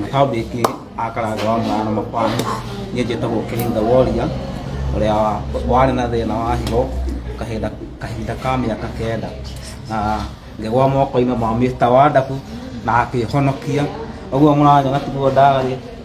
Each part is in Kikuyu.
na kambĩ ĩngĩ akaranga wa mwana makwani niĩ njĩtagwo kĩhinda woria ũrĩa warĩ na thĩna wa higo kahinda kahinda ka mĩaka kenda na ngĩgwa moko-inĩ ma mĩta wa ndabu na akĩhonokia ũguo mũranyona tiguo ndarĩ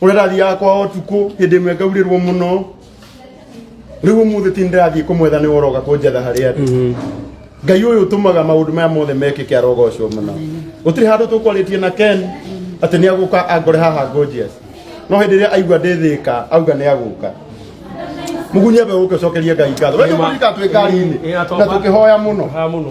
uria ndathiaga kwao tuku hindi imwe ngaurirwo muno riu umuthi ti ndirathiĩ kũmwetha nĩ woroga kũnjetha harĩ andũ ngai ũyũ ũtũmaga maũndũ maya mothe mekĩke arogocwo mũno gũtirĩ handũ tũkwarĩtie na ken atĩ nĩ agũka angore haha ngũnjias no hĩndĩ ĩrĩa aigua ndĩthĩka auga nĩ agũka mugunyia mbe ũke ũcokerie ngai ngatho wee nĩ ũkũrika twĩ ngari-inĩ na tũkĩhoya mũno Haha mũno.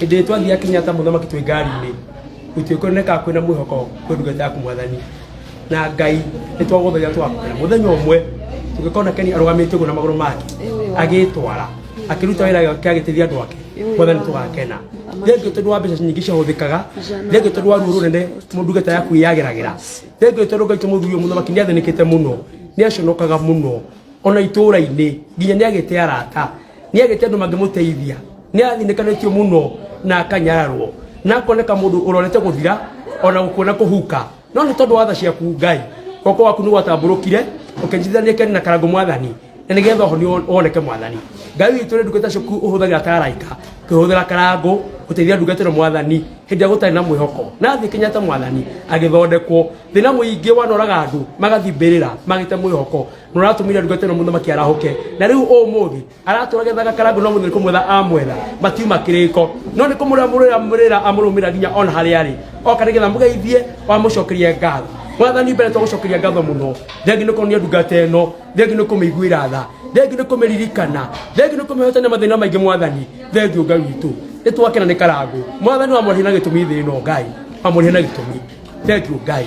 hĩndĩ ĩrĩa twathiaga Kenyatta mũthamaki twĩ ngari-inĩ gũtirĩ kuonekaga kwĩna mwĩhoko kwĩ ndungata yaku mwathani na ngai nĩ twagũthagia twakwĩra mũthenya ũmwe tũgĩkona keni arũgamĩte ũguo na magũrũ make agĩtwara akĩruta wĩra wake agĩteithia andũ ake mwathani tũgakena thengio tondũ wa mbeca nyingĩ ciahũthĩkaga thengio tondũ wa ruo rũnene ndungata yaku yageragĩra thengio tondũ ngai tũ mũthuri ũyũ mũthamaki nĩ athĩnĩkĩte mũno nĩ aconokaga mũno ona itũũra-inĩ nginya nĩ agĩte arata nĩ agĩte andũ mangĩmũteithia nĩ athĩnĩkanĩtio mũno na akanyararwo na akoneka mũndũ ũrorete gũthira ona gũkuona kũhuka no nĩ tondũ wa tha ciaku ngai goko waku nĩ gwatambũrũkire ũkĩnjithania kĩani na karango mwathani na nĩgetha ũhoni won- woneke mwathani ngai witũ nĩ ndungata ciaku ũhũthagĩra ta araika kĩhũthĩra karango gũteithia ndungata ĩno mwathani hĩndĩ ĩrĩa gũtarĩ na mwĩhoko na thĩ kenyatta mwathani agĩthondekwo thĩna mũingĩ wanoraga andũ magathimbĩrĩra magĩte mwĩhoko mũratũmire ndungata ĩno mũthamaki arahũke na rĩu ũmũthĩ aratũra gethaga karangũ no mũthĩ kũmwetha amwetha matiuma kĩrĩko no nĩ kũmũrĩa mũrĩra mũrĩra amũrũmĩra nginya ona harĩa arĩ oka nĩgetha mũgeithie wamũcokerie ngatho mwathani mbere twagũcokeria ngatho mũno thengi nĩ kuonia ndungata ĩno thengi nĩ kũmĩiguĩra tha thengi nĩ kũmĩririkana thengi nĩ kũmĩhotania mathĩna maingĩ mwathani thengi ngai witũ nĩ twakena nĩ karangũ mwathani wamũrĩhia na gĩtũmi thĩ ĩno ngai wamũrĩhia na gĩtũmi thengi ngai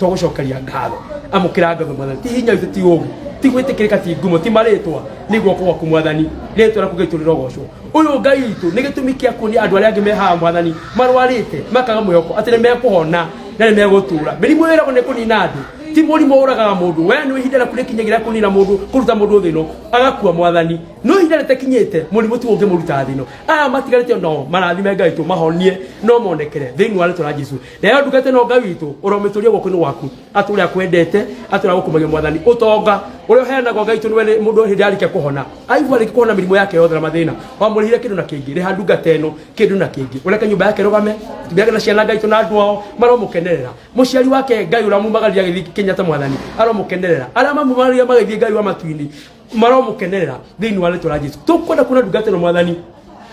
tũgũcokeria ngatho amũkĩra ngatho mwathani ti hinya witũ ti ũũgĩ ti gwĩtĩkĩrĩka ti ngumo ti marĩtwa nĩ guoko gwaku mwathani rĩtwa rĩaku gĩtũ rĩrogocwo ũyũ ngai witũ nĩ gĩtũmi kĩa kuonia andũ arĩa angĩ me haha mwathani marwarĩte makaga mwĩhoko atĩ nĩ mekũhona na nĩ megũtũũra mĩrimũ ĩragwo nĩ kũnina andũ ti mũrimũ ũragaga mũndũ we nĩ ihinda rĩaku rĩkinyagĩra kũnina mũndũ kũruta mũndũ thĩno agakua mwathani no ihinda rĩtakinyĩte mũrimũ ti ũngĩmũruta thĩno aya matigarĩte nao marathime ngai tũ mahonie no monekere thĩinĩ wa rĩtwa rĩa jesu nayo ndungata ĩno ngai witũ ũromĩtũria guoko-inĩ waku atũ ũrĩa akwendete atũ ũrĩa gũkũmagia mwathani ũtonga ũrĩa ũheanagwo ngai witũ nĩwe mũndũ hĩndĩ arĩkia kũhona aigua arĩkia kũhona mĩrimũ yake yothe na mathĩna wamũrĩhire kĩndũ na kĩngĩ rĩha ndungata ĩno kĩndũ na kĩngĩ ũreke nyũmba yake rũgame atumia ake na ciana ngai witũ na andũ ao maromũkenerera mũciari wake ngai ũrĩa mumagaria agĩthiĩ kenyatta mwathani aromũkenerera arĩa mamumagaria magĩthiĩ ngai wa matu-inĩ maromũkenerera thĩinĩ wa rĩtwa rĩa jesu tũkwenda kuona ndungata ĩno mwathani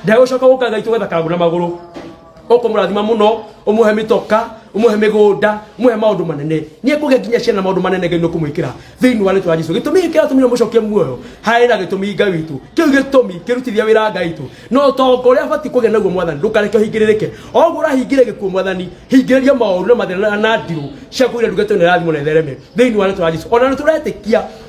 ndagũcoka gũka ngai tũgetha kangũ na magũrũ ũkũmũrathima mũno ũmũhe mĩtoka ũmũhe mĩgũnda ũmũhe maũndũ manene nĩ ekũgĩa nginya ciana na maũndũ manene ngai nĩ ũkũmwĩkĩra thĩinĩ wa rĩtwa rĩa jesu gĩtũmi gĩkĩ atũmire mũcokie muoyo harĩ na gĩtũmi ngai witũ kĩu gĩtũmi kĩrutithia wĩra ngai witũ na ũtonga ũrĩa abatiĩ kũgĩa naguo mwathani ndũkareke ũhingĩrĩrĩke o ũguo ũrahingĩre gĩkuũ mwathani hingĩrĩria maũru na mathĩna na ndirũ ciaku iria ndugĩtwo nĩ rathimo na ithereme thĩinĩ wa rĩtwa rĩa jesu ona nĩ tũretĩkia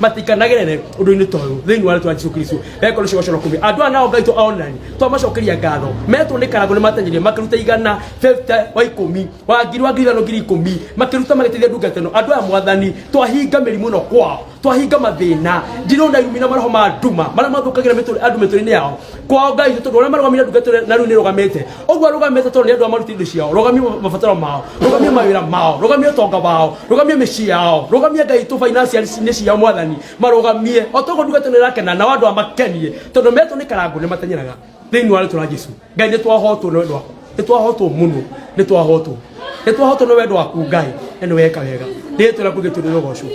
matikanagerere undu-ini toyu thiini wa ritwa jesu kristo ekoro cio gocoro kumi andu aya nao ngai to onani twamacokeria ngatho metwo ni karango ni matenyirie makiruta igana 50 wa ikumi wa ngiri wa ngiri ithano ngiri ikumi makiruta magiteithia ndungata ino andu aya mwathani twahinga mirimu ino kwao twahinga mathina ndirona irumi na maroho ma nduma maria mathukagira andu mituri-ini yao kwao ngai tondu uria marugamire ndungata ino na riu ni rugamite ũguo rũgamĩte tondũ nĩ andũ a maruti indo ciao rũgamie mabataro mao rũgamie mawĩra mao rũgamie ũtonga wao rũgamie mĩciĩ yao rũgamie ngai tũ financial-inĩ ciao mwathani marũgamie o toguo ndungata nĩ ĩrakena nao andũ a makenie tondũ metwo nĩ karangũ nĩ mateng'eraga thĩinĩ wa rĩtwa rĩa jesu ngai nĩ twahotwo nĩ wendo waku nĩ twahotwo mũno nĩ twahotwo nĩ twahotwo nĩ wendo waku ngai na nĩ weka wega rĩrĩa twĩra kuge tũrĩ rũgocũ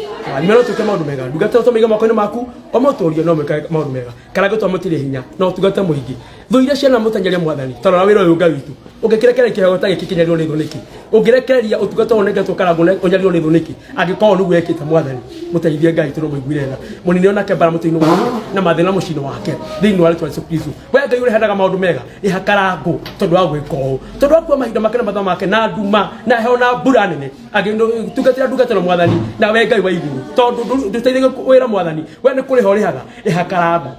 nyuma no twĩke maũndũ mega ndungata tũmĩige moko-inĩ maku o mũtũũrie no mwĩkage maũndũ mega karangũ twa mũtirĩ hinya no tungate mũingĩ thũire ciana mũteng'eria mwathani tarora wĩra ũyũ ngai witũ ũngĩkĩrekereria kĩheo ta gĩkĩ kĩnyarirwo nĩ thũ nĩkĩ ũngĩrekereria ũtungata ũyũ nĩgetwo karangũ na ũnyarirwo nĩ thũ nĩkĩ angĩkorwo nĩguo ekĩte mwathani mũteithie ngai tũrĩ mũiguire tha mũnini onake mbara mũtĩ-inĩ wake na mathĩna mũciĩ-inĩ wake thĩinĩ wa rĩtwa Jesu Kristo we ngai ũreheanaga maũndũ mega rĩha karangũ tondũ wa gwĩka ũũ tondũ wa kuwa mahinda make na mathaa make na nduma na heho na mbura nene agĩtungatĩra ndungata na mwathani na we ngai wa igũrũ tondũ ndũteithagia wĩra mwathani we nĩ kũrĩha ũrĩhaga rĩha karangũ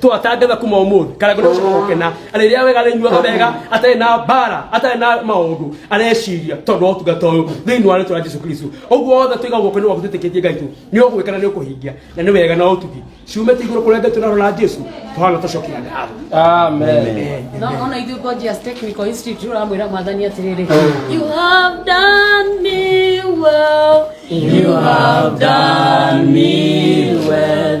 twatangatha kuma umuthi kana kuna gukena ariria wega rinyuaga wega atari na bara atari na maundu areciria tondu otungata uyu thiini wa ritwa Jesu Kristo uguo wothe tuiga guoko ni waku twitikitie ngai tu ni ugwikana ni ukuhingia na ni wega na utugi ciumite iguru kuria ngai tunarora Jesu tuhana tucokia ngatho Amen. No, ona ithuĩ Gorgeous Technical Institute ũramwĩra mwathani atĩrĩrĩ You have done me well You have done me well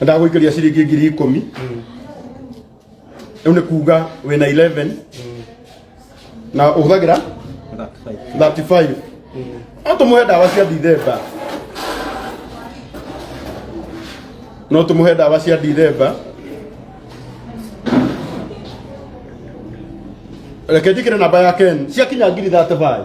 ndagũikĩria ciringi ngiri ikũmi rĩu nĩ kuga wĩna 11 na ũhũthagĩra 35 no tũmũhe ndawa cia ndithemba no tũmũhe ndawa cia ndithemba reke njĩkĩre namba ya ken ciakinya ngiri 35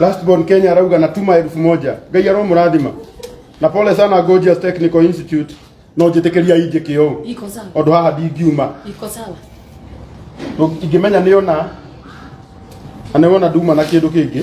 Last born Kenya arauga natuma elfu moja ngai aromurathima na pole sana Gorgeous Technical Institute no njĩtĩkĩria injĩ kĩũ Iko sawa. ũndũ haha ndingiuma Iko sawa. Ndũ- ingĩmenya nĩ ona na nĩ wona nduma na kĩndũ kĩngĩ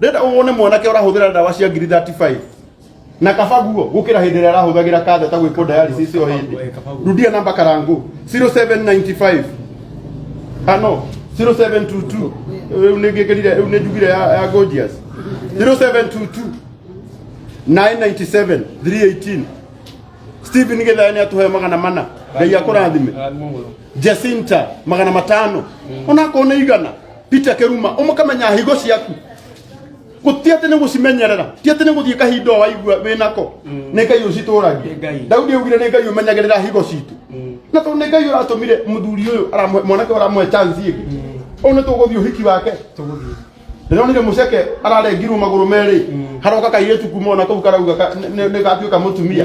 Ndĩrenda wone mwanake ũrahũthĩra ndawa cia ngiri 35 na kaba guo gũkĩra hĩndĩ ĩrĩa arahũthagĩra katheta gwĩkwo dialysis ĩyo hĩndĩ. Rudia namba karangũ 0795 ah no 0722 rĩu nĩ ngĩkĩrire rĩu nĩ njugire ya, ya Gorgeous 0722 997 318 Stephen Githaya nĩ atũhe magana mana ngai akũrathime Jacinta magana matano onakorwo nĩ igana peter keruma umukamenya higo ciaku guti ati ni gucimenyerera ti ati ni guthie kahinda waigua wi nako ni ngai ucituragia daudi augire ni ngai umenyagirira higo citu na to ni ngai uratumire muthuri uyu mwanake uramwe chance ingi u ni tuguthie uhiki wake ndonire muceke ararengirwo maguru meri haroka kairitu kuma ona kau karauga nigatuika mutumia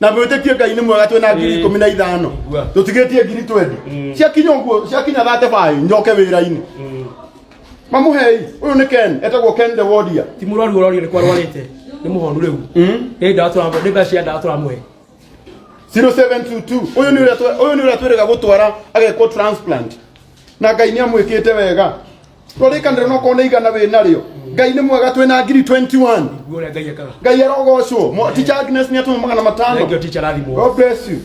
na mwĩtĩkie ngai nĩ mwega twĩna ngiri ikũmi na ithano tũtigĩtie ngiri twendi ciakinya ũguo ciakinya thate baĩ njoke wĩra-inĩ mamũhei ũyũ nĩ ken etagwo ken the warrior ti må rwaru å rorio nä kwa rwarite nä må honu rä u nä ndawa tå nä mbeca cia ndawa tå ramå he 0722 uyu ni uria twe- uyu ni uria twirega gutwara agekwo transplant na ngai ni amwikite wega rorĩkanĩro no korwo nĩ igana wĩ narĩo ngai nĩ mwega twĩ na ngiri 21 Nguo ũrĩa Ngai ekaga. ngai arogocwo Mo- teacher agnes nĩ atũma magana Thank you, matano teacher, rathimwo. god bless you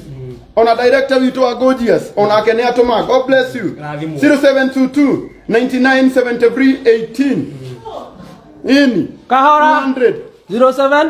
ona director witũ wa gorgeous onake nĩ atũma god bless you Rathimwo. 0722 9973 18 ini Kahora. 100 07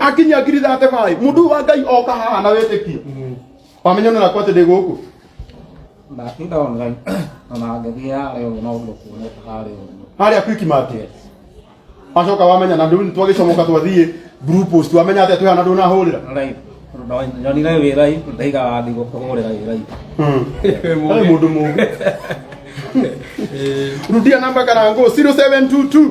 akinyia ngiri thate baĩ mũndũ wa ngai oka haha na wĩtĩkio wamenya nĩ nakwa atĩ ndĩ gũkũ ndatinda online ona ngĩthiĩ harĩa ũguo no ũguo kuoneka harĩa ũguo harĩa kwiki market wacoka wamenya na ndũni twagĩcomoka twathiĩ blue post wamenya atĩ twĩhana ndũnahũrĩra Rai, ndo- nyonire wĩ rai ndaiga wathi gũkũhũrĩra wĩ rai Hey, mũndũ mũgĩ rudia namba karango 0722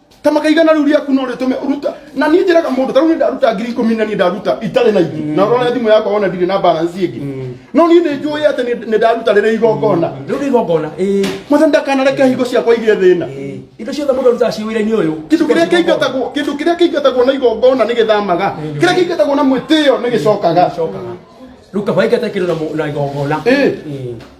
kama kaigana riu riaku no ritume uruta na ni njiraga mundu tarau ni ndaruta ngiri ikumi na ni ndaruta itari na ingi na urona thimu yakwa wona ndiri na balance ingi no ni ni njui ati ni ni ndaruta riri igongona rä u rä igongona ä mwathani ndakanareke hingo ciakwa igä thä na indo ciothe må ndå arutaga ciä wä ra-inä å yå kindu kiria kiingatagwo kindu kiria kiingatagwo na igongona ni githamaga kiria kiingatagwo na mwitiyo ni gicokaga rä u kaba ingate kä ndå na igongona Eh.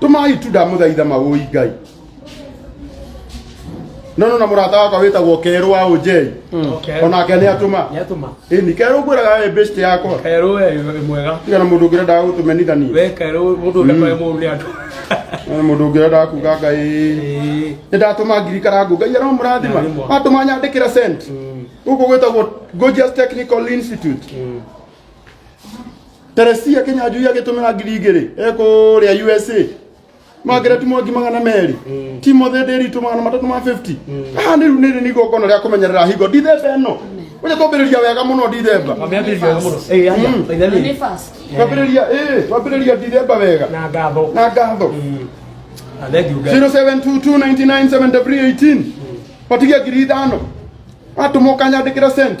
tumai tu ndamuthaitha magũi ngai no no na mũrata wakwa wĩtagwo kerũ wa ũnjei Okay. onake nĩ atũma Yatuma. ĩni kerũ ngwĩraga we best yakwa Kairo we ni mwega. tiga na mũndũ ũngĩrendaga gũtũmenithania We kairo mundu ule kwa mundu atu. na mũndũ ũngĩrendaga kuga ngai Eh. nĩ ndatũma ngirikara ngũ ngai aramũrathima Arimũ. atũma nyandĩkĩra sent gũkũ gwĩtagwo Gorgeous Technical Institute teresia kinyanjui agĩtũmĩra ngiri igĩrĩ ekũrĩa usa magereti mwangi magana merĩ timothy ndĩritũ magana matatũ ma 50 haha nĩ rĩu nĩrĩ nĩ igongona rĩa kũmenyerera hingo ndithemba ĩno ũja twambĩrĩria wega mũno ndithemba Wameambĩrĩria wega mũno. Ĩĩ, aja, Mm. thaitha nĩ. Nĩ fast. twambĩrĩria ĩ twambĩrĩria ndithemba wega Na ngatho. na ngatho Na thengiũ Ngai. 0722997318 patigia ngiri ithano atũmwo kanyandĩkĩra cent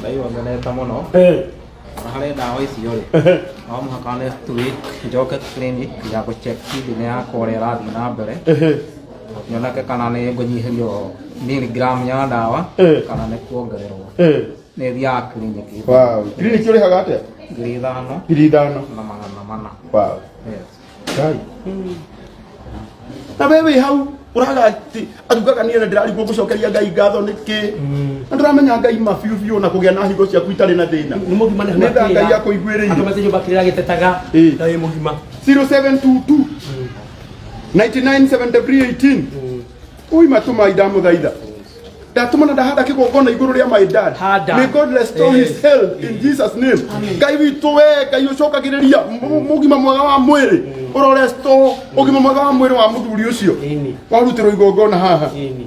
Ngai wongerete mũno na harĩ ndawa icio rĩ no mũhaka nĩ tũi njoke clinic ya gũ check kidney yakwa ũrĩa ĩrathiĩ na mbere nyoneke kana nĩ ngũnyihĩrio miligram ya ndawa Eh. kana nĩ kuongererwo nĩ thiaga clinic wow clinic ũrĩhaga atĩa ngiri ithano ngiri ithano na magana mana wow yes Gari. na we wĩ hau ũraga ati- atugaga niĩ na ndĩrarigwo gũcokeria ngai ngatho nĩkĩ na ndĩramenya ngai ma biũ biũ na kũgĩa na hingo ciaku itarĩ na thĩna nä må gima nä tha ngai akũiguĩrĩire akamacä nyå mba kä rä ra gä tetaga Ĩĩ. na wä må gima 0722 997318 Ui matumai ndamuthaitha. Ndatũma na ndahanda kĩgongona igũrũ rĩa my dad. Handa. May God restore his Yes. health in Jesus name. Ngai witũ we, Ngai ũcokagĩrĩria mũ- mũgima mwega wa mwĩrĩ. Ũro restore ũgima mwega wa mwĩrĩ wa mũthuri ũcio. Ĩni. Warutirwo igongona haha. Ĩni.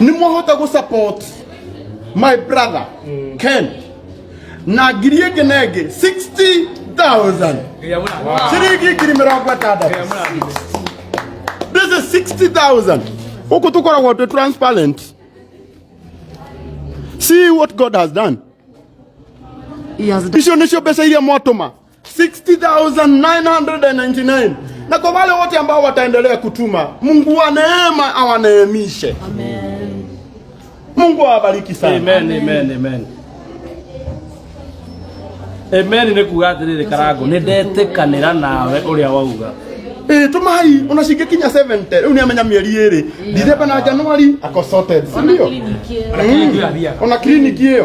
ni mũhote gũ support my brother Ken na ngiri ĩngĩ na ĩngĩ 60,000 ciringi ngiri mĩrongo ĩtandatũ this is 60,000 gũkũ tũkoragwo twĩ transparent see what God has done He has done. icio nĩcio mbeca iria mwatũma 60999 na kwa wale wote ambao wataendelea kutuma mungu wa neema awaneemishe Amen. mungu awabariki sana Amen, amen, amen. Amen nĩ kuga atĩrĩrĩ karango nĩ ndetĩkanĩra nawe ũrĩa wauga Eh, tumai unashika kinya 70 rĩu nĩ amenya mĩeri ĩrĩ ndithemba na januari ako sorted si ndio Ona kliniki ĩyo. ona kliniki ĩyo